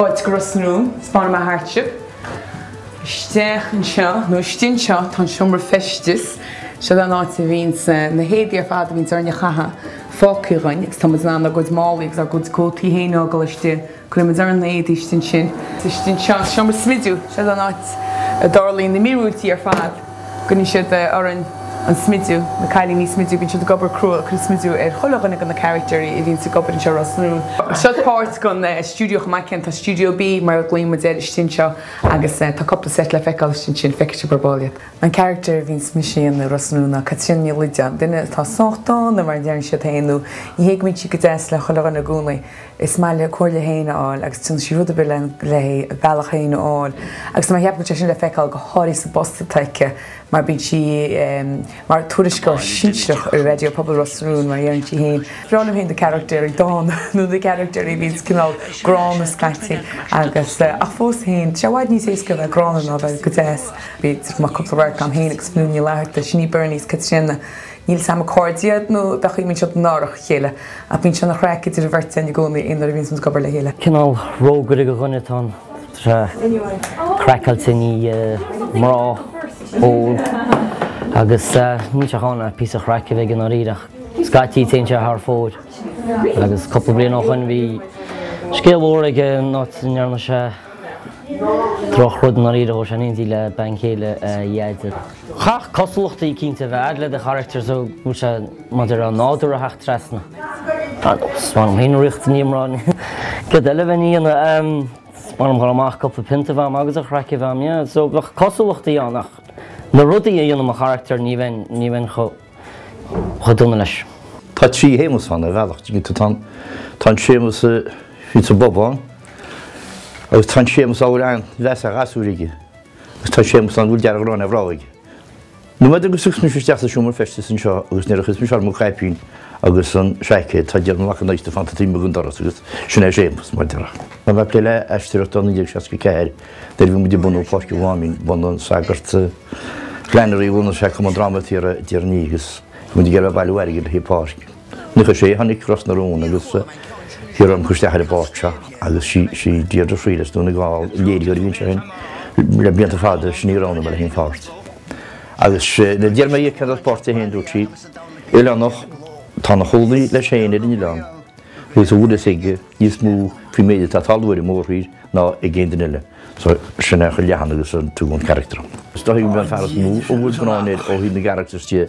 Fáilte go Ros na Rún. Spáinfidh mé thart sibh. Isteach anseo, nó istigh anseo, tá an seomra feistis. Seo an áit a bhíonns eh, na héadaí ar fad a bhíonns orainn a chaitheamh fágtha againn agus tá muid in ann ár gcuid málaí agus ár gcuid cótaí féin a fhágáil istigh Cuirimid ar an naoi dtuiscint sin. Istigh anseo an seomra smidiú, seo is an áit a dtarlaíonn na míorúiltí ar fad. Cuireann siad orainn an smidiú, na cailíní smidiú, bíonn siad ag obair crua ag cur smidiú ar chuile dhuine de na carachtair a bhíonns ag obair anseo, Ros na Rún. Seo is páirt den stiúideo chomh maith céanna tá Stiúideo B mar a ghlaonn muid air istigh anseo agus tá cúpla seit le feiceáil istigh ansin feicfidh sibh ar ball iad. An carachtar a bhíonns mise a dhéanamh i Ros na Rún ná Caitríona Ní Loideáin, duine atá sách dána mar a deireann siad féin nó ní bhíonn sí go deas le chuile dhuine i gcónaí. Is maith léi a comhairle féin a fháil agus déanann sí rud ar bith lena bealach féin a fháil. Agus tá mé ag ceapadh go raibh sé sin le feiceáil go háirithe sa bpost atá aici mar bíonn sí mar tuairisceoir sinsearach ar Raidió Pobail Ros na Rún, mar a deireann sí féin. Is breá liom féin na carachtéirí dána nó na carachtéirí a bhíonns cineál gránna scaití agus, ach fós féin, tá sé i bhfad níos éasca a bheith gránna ná a bheith go deas. Bhí cúpla radharc agam féin agus Fionnuala Ní Fhlatharta, sin í Berni agus Caitríona Níl siad cairdiúil nó bheith chaoin, bíonn siad in árach a chéile, ach bíonn sé an-chraic idir an bheirt againn i gcónaí nuair a bhíonn muid ag obair le chéile. Cineál rógaire go dhuine atá ann, tá craiceáilte i ndiaidh mná, ól, agus níl sé chun ach píosa chraic a bheith aige i ndáiríre, ach scaití téann sé thar fóir, agus cúpla bliain ó shoin bhí scéal mór aige in áit a ndearna sé droch rud i ndáiríre, chuaigh sé in éindí le bean chéile a dheaide. Chaithfeadh cosúlachtaí eicínt a bheith a'd le do charachtar so go bhfuil sé maidir le nádúr a theacht trasna. Is maith liom fhéin an riocht ní mná céard eile a bheinn a dhéanamh. Is maith liom dhul amach cúpla pionta a bheith a'm agus an chraic a bheith a'm, yeah. So bheadh cosúlachtaí ann ach na rudaí a dhéanann mo charachtar ní bheinn, ní bheinn chomh dona leis. Tá trí Shéamus ann ar bhealach, an dtuigeann tú. Tá an, tá an Séamus a bhíonns sa bpub ann agus tá an Séamus a bhfuil an-mheas ar ghasúir aige. Agus tá Séamus ann go bhfuil dearg-ghráin ar mhná aige. Nóiméad agus a shiúlaimse isteach sa seomra feistis anseo agus nuair a chuirimse orm an caipín agus an seaicéad, tá Diarmaid Mac an Adhastair fanta taobh amuigh den doras agus sin é Séamus, mar a déarfá. Tá mé ag plé le aisteoireacht ó 1964 nuair a bhí muid ag bunú Pháirc an Mháimín, bhunaigh an sagart Flannery a bhunaigh sé Cumann Dráma Fíor-Dhearnaí agus bhí muid ag iarraidh bailiú airgid le haghaidh páirc. Nuair a tháinig Ros na Rún agus hiarradh orm dul isteach ar an bpáirt seo agus sí Deirdre Freelis, Dún na nGall, léiritheoir a bhí anseo le blianta fada, sin í a roghnaigh mé le haghaidh an pháirt. Agus nuair d'iarr mé dhi cad é an pháirt é féin dúirt sí, Oileánach, atá ina chónaí leis féin ar an oileán agus a bhfuil fhios aige níos mó faoin méid atá ag tarlú ar an mórthír ná ag aon duine eile. So sin é a chuir leathanaigh as an tugann carachtar. Is dóichí go mbeidh an fear is mó a bhfuil bróin air ó thaobh na gcarachtar is tithe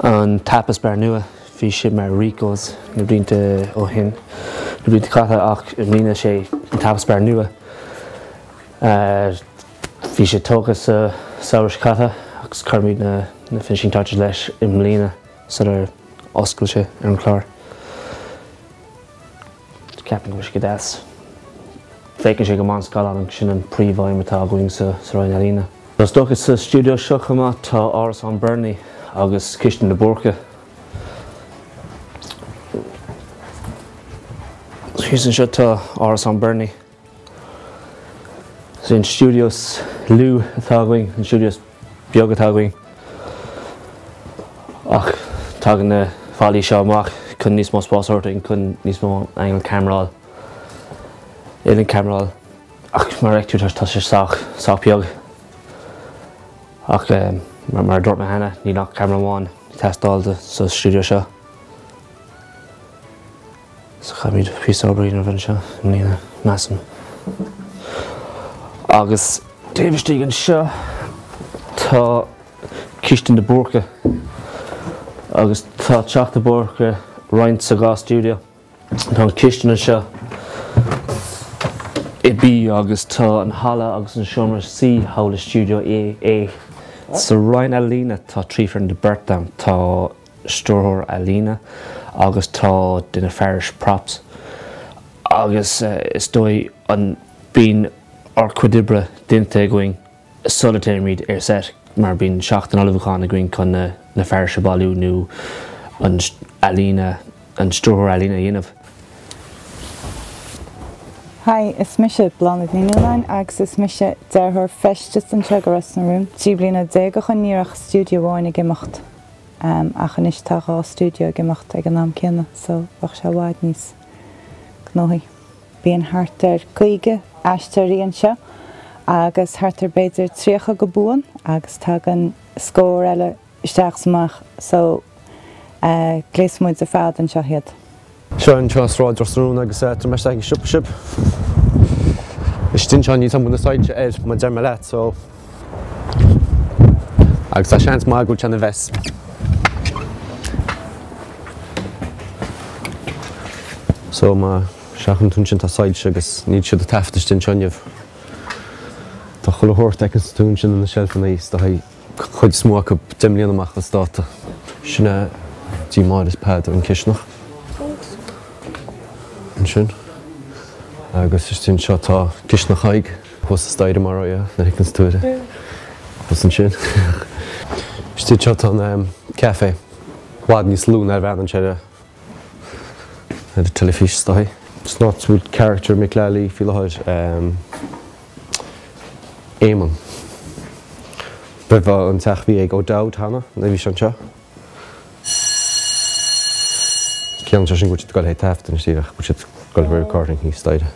An Tapas Bar Nua, bhí sé mar Rico's na blianta ó shin, na blianta caite ach i mbliana is é an Tapas Bar Nua. Bhí sé tógtha sa samhradh seo caite agus chuireamar na finishing touches leis i mbliana sular oscail sé ar an gclár. Ceapann go bhfuil siad deas. Féachann sé go maith ar an scáileán agus sin an príomhaidhm atá againn sa Roinn Ealaíne. Is dócha sa stiúideo seo chomh maith tá árasán Bernie agus cistin na mBúrcach. Thíos anseo tá árasán Bernie. Is é an stiúideo lú atá againn, an stiúideo is beag atá againn, ach tagann na fallaí seo amach chun níos mó spáis a thabhairt dúinn chun níos mó angle ceamara, uillinn ceamara, ach mar a fheictear tá, tá sé sách, sách beag. Ach mar, mar a dúirt mé cheana, níl ach ceamara amháin ag teastáil sa stiúideo seo. So caithfimid píosa obair a dhéanamh anseo i mbliana, measaim. Agus taobh istigh anseo tá Cistin de Búrca agus tá teach de Búrca roinnte sa dhá stiúideo. Tá an cistin anseo i B agus tá an halla agus an seomra suí thall i Stiúideo A. Sa roinn ealaíne tá trí foireann de bheirt ann, tá stiúrthóir ealaíne agus tá duine fearais props agus is dóigh, am, bíonn ár cuid oibre déanta againn sula dtéimid ar set mar bíonn seachtain ullmhúcháin againn chun na fearais a bhailiú nó an ealaíne an stiúrthóir ealaíne a dhéanamh. Hi, is mise Bláthnaid Ní Nualláin agus is mise dearthóir feistis anseo i Ros na Rún. Trí bliana déag ó shin ní raibh ach stiúideo amháin ag imeacht. Am, ach anois tá dhá stiúideo ag imeacht ag an am céanna so tá sé i bhfad níos gnóthaí. Bíonn thart ar caoga aisteoirí anseo agus thart ar b'fhéidir tríocha go buan agus tagann scór eile isteach 's amach so gléasaimid ar fad anseo iad. Seo an cineál sráid de Ros na Rún agus tabharfaidh mé isteach ag an siopa sibh. Istigh anseo, níl tum na soilse air, mar a deir mé leat, so. Agus tá seans maith go bhfuil sé ina mess. So má seachain tú ansin tá soilse agus níl siad ag taifeadadh istigh anseo inniu. Tá chuile shórt a fheiceann tú ins na seilfeanna seo cuid is mó acu deich mbliana amach as dáta. Sin é tigh Mháire is Peadar an chisteanach. Ansin, agus istigh anseo, tá cisteanach Thaidhg, thuas sa staighre mar a raibh, nuair a thiocfainn sa tuaire. Thuas ansin. Istigh anseo tá an café, i bhfad níos lú ná a bhreathnaíonn sé ar an teilifís, is dóigh. Is dócha go bhfuil carachtar Mick Lally faoi láthair. Éamonn, B'fh an teach a bhí ag O'Dowd cheana, nó bhí sé anseo. Cén anseo sin go bhfuil siad ag goil ag taifeadadh anois díreach, go bhfuil siad ag goil Ó. recording thíos staighre.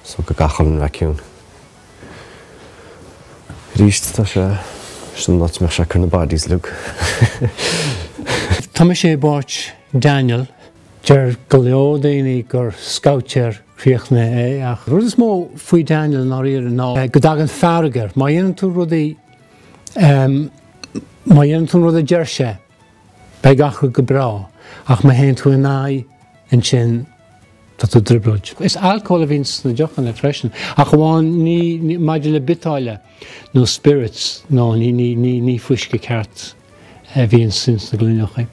So go gcaithfidh muid a bheith ciúin. Aríst tá sé, sin an áit a mbeadh sé ag cur na bodies uilig. Tá mise i bpáirt Daniel. Deir go leor daoine gur scabhtéir críochnaithe é ach rud is mó faoi Daniel i ndáiríre ná go dtagann fearg air má dhéanann tú rud a má dhéanann tú an rud a deir sé, beidh gach rud go breá ach má théann tú in aghaidh, ansin tá tú i dtrioblóid. Is alcól a bhíonn sna deochanna freisin ach amháin ní maidir le biotáille. nó spirits, nó ní fuisce ceart a bhíonns ins na gloineacha.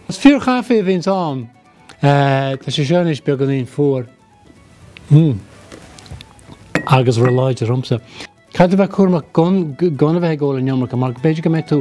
Is fíorchaife a bhíonns ann. Tá sé seo anois beagáinín fuar. Mmm. Agus róláidir dhomsa. Caithfidh tú bheith cúramach gan a bheith ag ól an iomarca, mar b'fhéidir go mbeidh tú.